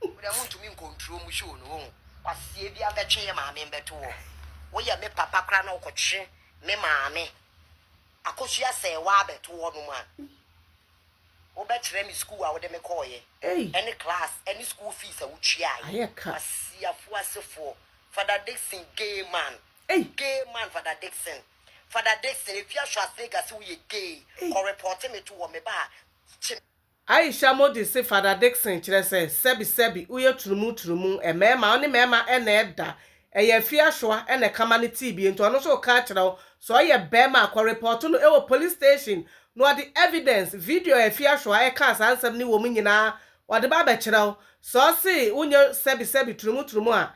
Wo deɛ wontumi nkɔ nturo mu show no wohu. Kwasie bia bɛtwe yɛ maame mbɛto hɔ woyɛ me papa koraa na wokɔtwe me maame akosua sɛɛ waa bɛto hɔ nom a wobɛkyerɛ me school a wode me kɔɔyɛ Ei! ɛne class ɛne school fees a wotuaaɛ Ayɛ ka. Kwasiafo asefoɔ Father Dickson gay man Ei! gay man Father Dickson Father Dickson efi Ashoase Legas woyɛ gay Ei! kɔ report me to hɔ meba a kye Aisha Modi se Fada Dickson kyerɛ sɛ sɛbi sɛbi woyɛ turumu turumu, mmarima, ɔne mmarima na ɛda, ɛyɛ afie asoa na ɛkama ne tii bie nti ɔno nso reka akyerɛ wo, sɛ ɔyɛ barima a kɔ report no wɔ police station na ɔde evidence, video a afie asoa ɛkaa saa nsɛm no wɔ mu nyinaa ɔde ba abɛkyerɛ wo, sɛ ɔse wonyɛ sɛbi sɛbi turumu turumu a,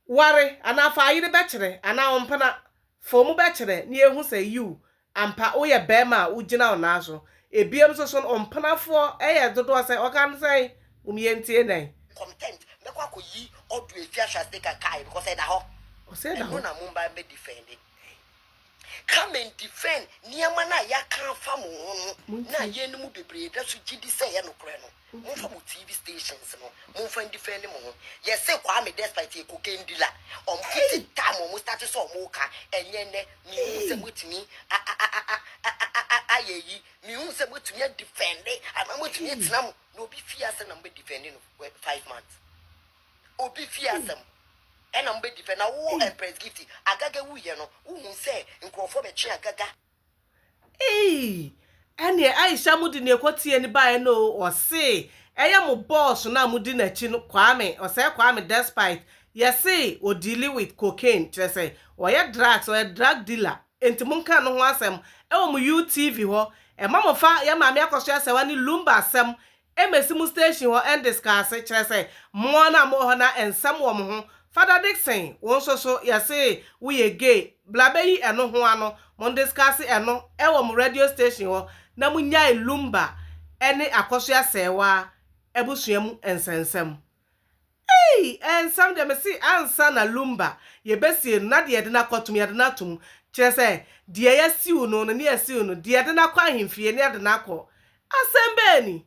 ware anaa fa ayere bɛkyerɛ anaa ɔmpena, fa ɔmu bɛkyerɛ na yɛhu sɛ yiw Ampa woyɛ bɛɛma a wogyina wo nan so. Ebiem nso so no wo mpenafoɔ yɛ dodoɔ sɛn? Ɔka no sɛn? Hom yɛntie nɛn. Comtent mɛkɔ akɔyi audio efi ahyɛ ase ka kae because ɛda hɔ Ɔse ɛda hɔ. ɛno na momba mbɛ defende come and defend nneɛma no a yɛaka afa mo ho no na Montie. yɛn no mu bebree da so gyidi sɛ ɛyɛ nokorɛ no. Monhwɛ mo TV stations no monfa ndifɛndi mo ho. Yɛse Kwame despite yɛ cocaine dealer ɔmo fiti time ɔmo starte sɛ ɔmo ka ɛnyɛ ndɛ menhunu sɛ moatumi ayɛ ayi menhunu sɛ moatumi adifɛndi anaa moatumi atena mo na obi fie asɛm na mobɛ difɛndi no wɛ five months obi fie asɛm ɛna mobɛ difɛndi na wo Empress Gifty Agaga wuiɛ no wohuu sɛ nkurɔfoɔ bɛtwe Agaga Eii! Ɛneɛ Aisha mode neɛ kɔteɛ no baeɛ no oo ɔsee ɛyɛ mo boss no a modi nakyi no Kwame ɔsɛe Kwame despite yɛsee ɔdeali with cocaine kyerɛ sɛ ɔyɛ drugs ɔyɛ drug dealer enti monka no ho asɛm ɛwɔ mo you TV hɔ ɛma mofa yɛn maame akɔso asɛwa ne lumba asɛm Embassy mu station hɔ Endes kaa se, kyerɛ sɛ, moa no a mowɔ hɔ na nsɛm wɔ mo ho. Father Dickson, wo nso so, yɛse wo yɛ gay, bla bɛyi ɛno ho ano, mo ndiscase ɛno wɔ mo radio station hɔ na mo nyae lumba ɛne akɔso asɛɛwaa abusua mu nsɛnsɛm. Ei! Nsɛm deɛ me se ansa na lumba yɛbɛsie no na deɛ yɛde no akɔto mu, yɛde no ato mu, kyerɛ sɛ, deɛ yɛasiw no no ne yɛasiw no, deɛ yɛde no akɔ ahemfie ne yɛde no akɔ. Asɛm bɛn ni?